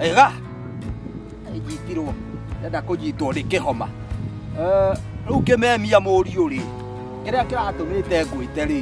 ega nyitirwo ndenda kũnyitwo nĩ kĩhoma rĩu ngĩmemia mũriũ rĩ kĩrĩa kĩratũmĩte ngwĩte rĩ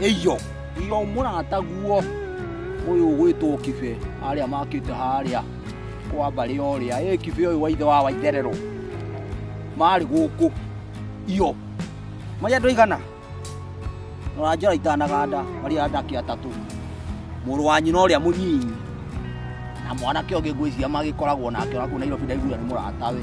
iyo iyo mũrataguo ũyũ ũgwĩtwo kibe arĩa makĩte harĩa kwa mbarĩ ũrĩa ĩ kibe ũyũ wa ithe wa waitherero marĩ gũkũ iyo marĩ andũ aigana noranjora itanaganda marĩ andake atatũ mũrũ wa nyina ũrĩa mũnyinyi na mwanake ũngĩ ngwĩciria magĩkoragwo nake onakuo nairobi ndaiguire nĩ mũratawe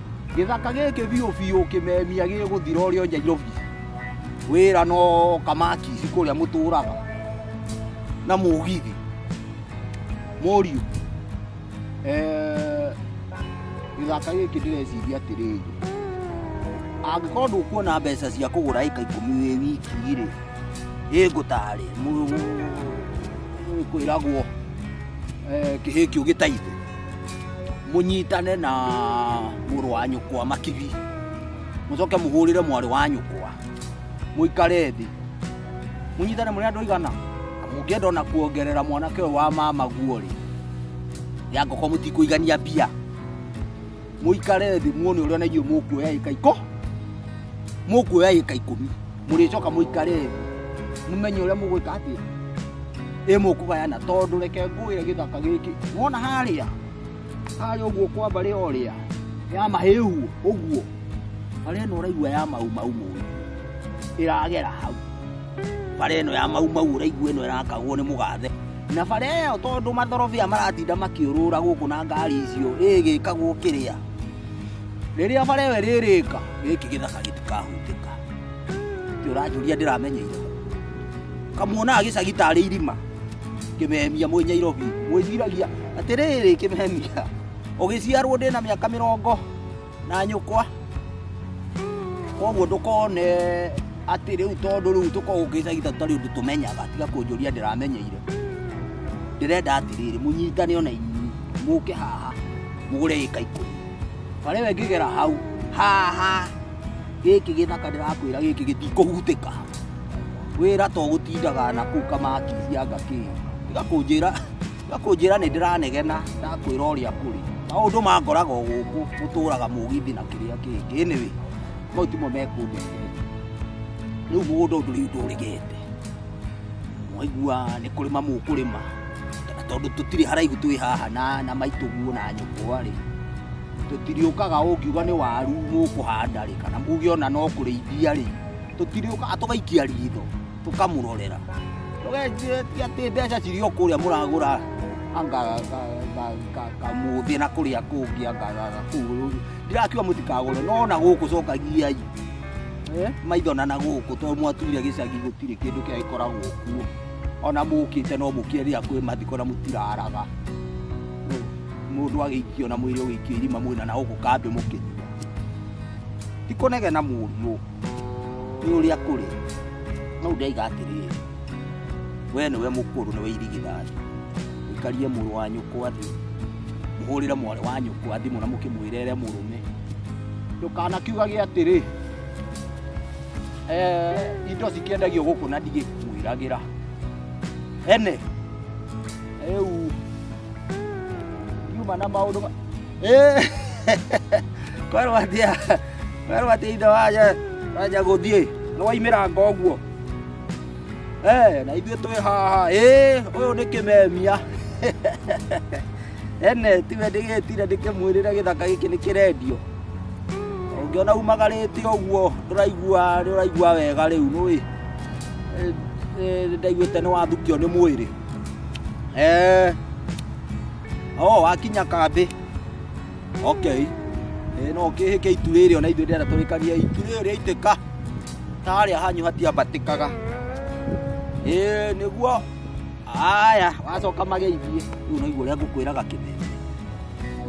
Gĩthaka gĩkĩ biũ biũ kĩmemia gĩgũthira ũrĩa Nyairobi wĩra no kamakisi kũrĩa mũtũraga na mũgithi mũriũ eh, gĩthaka gĩkĩ ndĩreciria atĩrĩrĩ angĩkorwo ndũkuona mbeca cia kũgũra ĩka ikũmi wĩ wiki rĩ ĩngũtarĩ kwĩragwo eh, kĩhĩkio gĩtaithũ munyitane na muru wa nyukwa makibi mucoke muhurire mwari wa nyukwa muikare thi munyitane muri andu igana mungienda ona kuongerera mwanake uyu wa mama guo ri ya ngoko mutikuigania mbia muikare thi muone uria na inyuĩ mukuoya ika iko mukuoya ika ikumi mũrĩcoka mũikare thĩ mũmenye ũrĩa mũgwĩka atĩa ĩ mũkũgayana tondũ reke ngũĩre gĩthaka gĩkĩ wona harĩa harĩa ũguo kwa mbarĩ orĩa ya mahĩhu ũguo mbarĩ ĩno ũraigua ya mau mau mũndũ ĩragera hau bara ĩno ya mau mau ũraigua ĩno ĩrakagwo nĩ mũgathe na bara ĩyo tondũ mathorobia maratinda makĩũrũra gũkũ na ngari icio ĩgĩkagwo kĩrĩa rĩrĩa bara ĩyo ĩrĩrĩka gĩkĩ gĩthaka gĩtikahutĩka Ati uranjuria ndiramenyeire. Kamuona agicagi tarĩ irima. Kĩmemia mwĩ Nyairobi. Mwĩciragia atĩrĩrĩ kĩmemia. Ũgĩciarwo ndĩ na mĩaka mĩrongo na nyũkwa. Koguo ndũkone atĩ rĩu tondũ rĩu tũkoragwo gĩcagi tũtarĩ ũndũ tũmenyaga tiga kũnjũria ndĩramenyeire. Ndĩrenda atĩrĩrĩ mũnyitane ona inyuĩ mũke haha mũgũre ĩka ikũmi. Barĩ we ngĩgera hau haha gĩkĩ gĩthaka ndĩrakwĩra gĩkĩ gĩtikũhutĩka wĩra to gũtindaga na kũu kamakithia ngakĩ tiga kũnjĩra tiga kũnjĩra nĩ ndĩranegena ndakwĩra ũrĩa kũrĩ maũndũ mangoraga o gũkũ gũtũraga mũgithi na kĩrĩa kĩngĩ anyway mau timo mekũndete rĩu mũgũnda ũndũ rĩu ndũrĩgete mwaigua nĩ kũrĩma mũkũrĩma tondå tå tirä haraihu twä haha na, na maitå guo na nyå kwarä tũtirĩũkaga ũngiuga nĩ waru mũkũhanda rĩ kana muge ona no kũrĩithia rĩ tũtirĩũkaga tũgaikia ritho tũkamũrorera tũgenjire ti atĩ mbeca cirĩ o kũrĩa mũragũra anga kamuthĩ na kũrĩa kũngĩ anga kũu ndirakiuga mũtikagũre no na gũkũ cokagiai Eh, maitho na na gũkũ tondũ mwatuire gĩcagi gũtirĩ kĩndũ kĩa gĩkoragwo kuo ona mũkĩte no mũkĩerira kwĩ mathiko na mũtiraraga mundu agĩikio na mwĩrĩ ũgĩikio irima mwĩna na gũkũ kambĩ mũkĩnyua tikonege na mũriũ nĩ ũrĩa kũrĩ no ndaiga atĩrĩrĩ we nĩwe mũkũrũ nĩwe irigithani ũikarie mũrũ wa nyũkwa thĩ mũhũrĩre mwarĩ wa nyũkwa thimũ na mũkĩmwĩrere mũrũme ndũkanakiugage atĩrĩ eh, indo cikĩendagio gũkũ na ndigĩkwĩragĩra ene rĩu yuma na maũndũ ma- Ĩ, kwerwo atia kwerwo atia ithe waja waja gũthiĩ nĩ waimiranga ũguo Eh, na ithuĩ twĩ haha ĩ ũyũ nĩ kĩmemia ene tiwe ndĩgĩtire ndĩkĩmwĩrĩre gĩthaka gĩkĩ nĩ kĩrendio ũngĩona umagarĩte ũguo ndũraigua ndũraigua wega rĩu nũĩ ndaiguĩte nĩ wathukio nĩ mwĩrĩ Eh. Oh, wakinya kambĩ. Okay. Eh, no kĩhĩke itu rĩrĩ ona ithuĩ ndĩrenda tũrĩkaria itu rĩrĩ rĩa itĩka. Tarĩa hanyu hatiambatĩkaga. Eh, nĩguo. Aya, wacoka mageithie. Rĩu naigua ũrĩa ngũkwĩraga kĩmeme.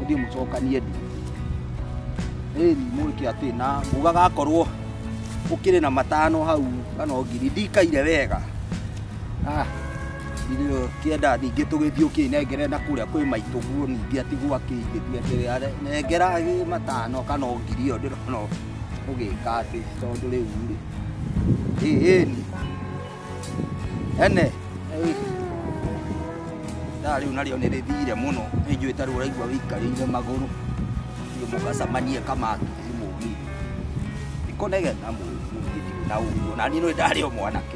Ũthiĩ mũcokanie ndi. Eh, mũrĩke atĩ na mugaga akorwo ũkĩrĩ na matano hau kana ngiri ndikaire wega Ah, ndio kienda ningĩ tũgĩthiĩ ũkĩnengere na kũrĩa kwĩ maitũ guo ningĩ atigwo akĩigĩthia atĩrĩ nengera gĩ matano kana o ngiri ĩyo ndĩrona ũgĩka atĩ tondũ rĩu rĩ ĩni ene thaa rĩu narĩo nĩ rĩthire mũno nĩ njũĩ tarĩ ũraigua wĩikarĩire magũrũ thiĩ mũgacamanie kamatuzi mũgi nĩkũnegena mũgi na ũguo na niĩ nĩ ndarĩ o mwanake